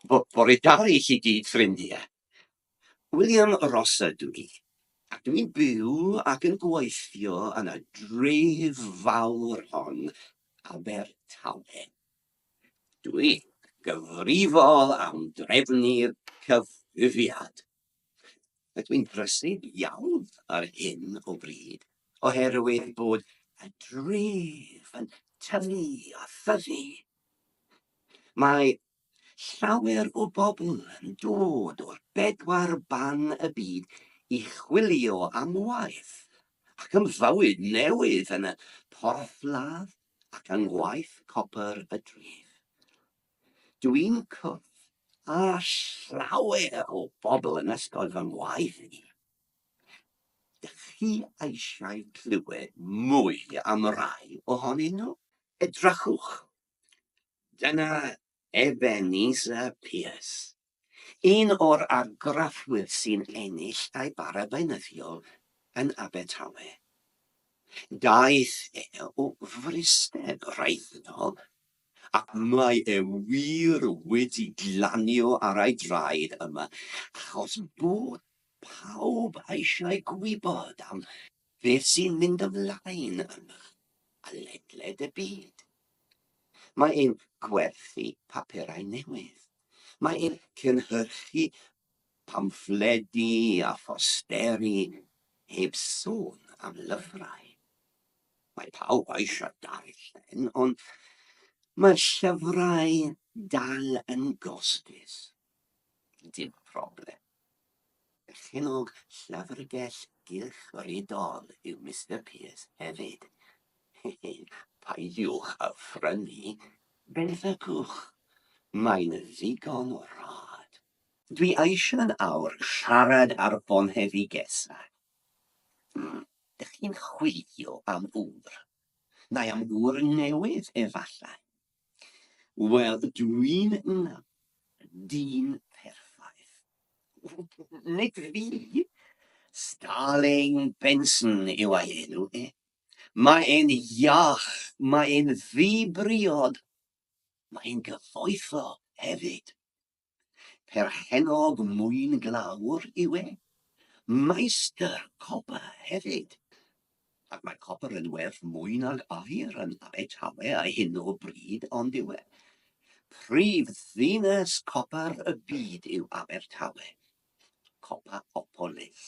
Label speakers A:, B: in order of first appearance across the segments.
A: Bore da i chi gyd ffrindiau. William Ross ydw i, ac dw i'n byw ac yn gweithio yn y dref fawr hon, Abertawe. Dw i'n gyfrifol am drefnu'r cyfrifiad. Rydw i'n brysur iawn ar hyn o bryd oherwydd bod y dref yn tyfu a thyfu. Mae llawer o bobl yn dod o'r bedwar ban y byd i chwilio am waith ac am fywyd newydd yn y porthladd ac yng ngwaith copr y dref. Dw i'n cwrdd â llawer o bobl yn ysgol fy ngwaith i. Dych chi eisiau clywed mwy am rai ohonyn nhw? Edrychwch, dyna Ebenezer Pierce. Un o'r argraffwyr sy'n ennill ei bara beunyddiol yn Abertawe. Daeth e o Fryste Brenhinol ac mae e wir wedi glanio ar ei draed yma achos bod pawb eisiau gwybod am beth sy'n mynd ymlaen yma a ledled y byd. Mae e'n gwerthu papurau newydd. Mae'n cynhyrchu pamffledi a phosteri heb sôn am lyfrau. Mae pawb eisiau darllen, ond mae'r llyfrau dal yn gostus. Dim problem. Perchennog Llyfrgell Gylchfrydol yw Mister Pearce hefyd. Hehe, peidiwch â phrynu, benthycwch, mae'n ddigon o rad. Dwi eisiau'n awr siarad ar bonheddigesa. Hmm, dych chi'n chwilio am ŵr? Neu am ŵr newydd efallai? Wel, dwi'n dyn perffaith. Nid fi. Starling Benson yw ei enw e. Mae e'n iach, mae e'n ddi-briod, mae e'n gyfoethog hefyd. Perchennog mwyn glawr yw e. Meistr copr hefyd. Ac mae copr yn werth mwy nag aur yn Abertawe ar hyn o bryd, ond yw e? Prif ddinas copr y byd yw Abertawe. Copapolis.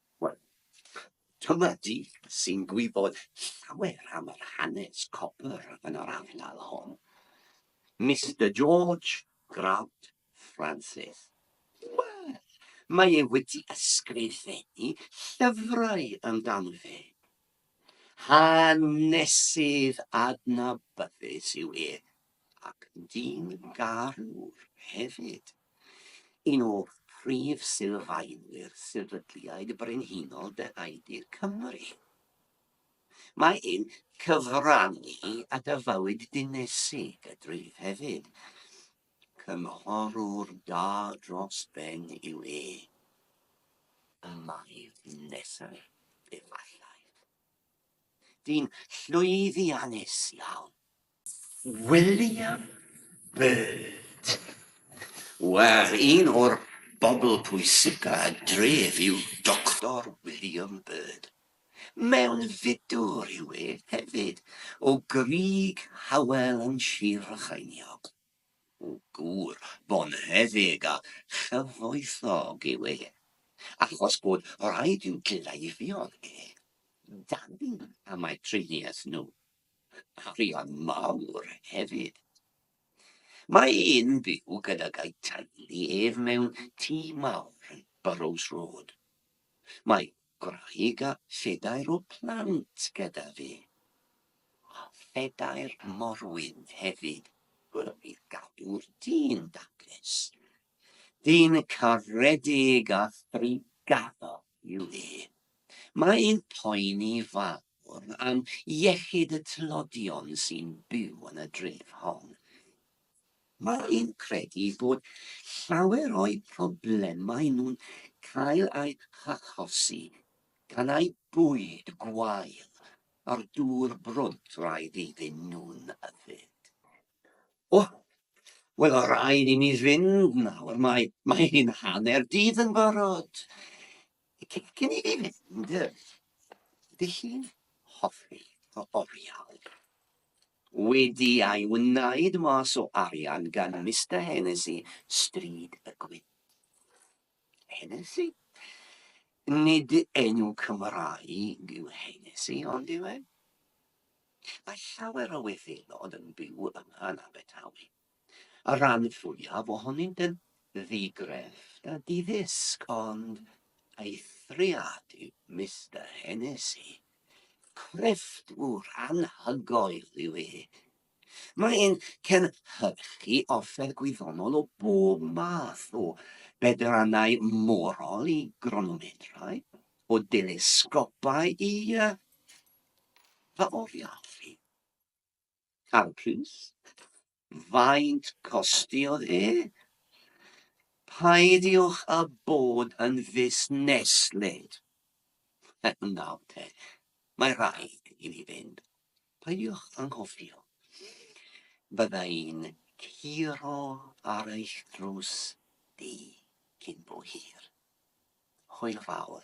A: Wel, dyma di sy'n gwybod llawer am yr hanes copr yn yr ardal hon. Mister George Grant Francis. Wel, mae e wedi ysgrifennu llyfrau amdano fe. Hanesydd adnabyddus yw e, ac dyn garwr hefyd, un o brif sylfaenwyr Sefydliad Brenhinol De Haedir Cymru. Mae e'n cyfrannu at y fywyd dinesig a dref hefyd. Cynghorwr da dros ben yw e. Y mae nesaf, efallai. Dyn llwyddiannus iawn. William Byrd. Wel, un o'r bobl pwysica y dref yw Doctor William Byrd. Mewnfudwr yw e hefyd, o Grug Hywel yn Sir Frycheiniog. Gŵr bonheddig a chyfoethog yw e, achos bod rhaid i'w gleifion e dalu am eu triniaeth nhw. arian mawr hefyd. Mae e'n byw gydag ei teulu ef mewn tŷ mawr yn Burrows Road. Mae gwraig a phedair o plant gyda fe. A phedair morwyn hefyd. Wel, bydd gadw'r dyn daclus. Dyn caredig a threigadol yw e. Mae'n poeni fawr am iechyd y tlodion sy'n byw yn y dref hon. Mae'n credu bod llawer o'u problemau nhw'n cael eu hachosi gan eu bwyd gwael a'r dŵr brwd rhaid iddyn nhw'n yfed. O, wel, o rhaid i mi fynd nawr, mae, mae hi'n hanner dydd yn barod. Cyn i fi fynd, ydy chi'n hoffi o oriau? Wedi ei wneud mas o arian gan Mister Hennessy, stryd y gwyn. Hennessy. Nid enw Cymraeg yw Hennessy, ond yw e? Mae llawer o Wyddelod yn byw yma yn Abertawe. Y rhan fwyaf ohonynt yn ddi-grefft a di-ddisg, ond eithriad yw Mister Hennessy. Crefftwr anhygoel yw e, Mae'n cynhyrchu offer gwyddonol o bob math, o bedrannau morol i gronomedrau, o delesgopau i uh, pa oriau fi? Cael pris? Faint costiodd e? Paidiwch a bod yn fusneslyd. Nawr te, mae rhaid i ni fynd. Peidiwch anghofio, bydda i'n curo ar eich drws chi cyn bo hir. Hwyl fawr.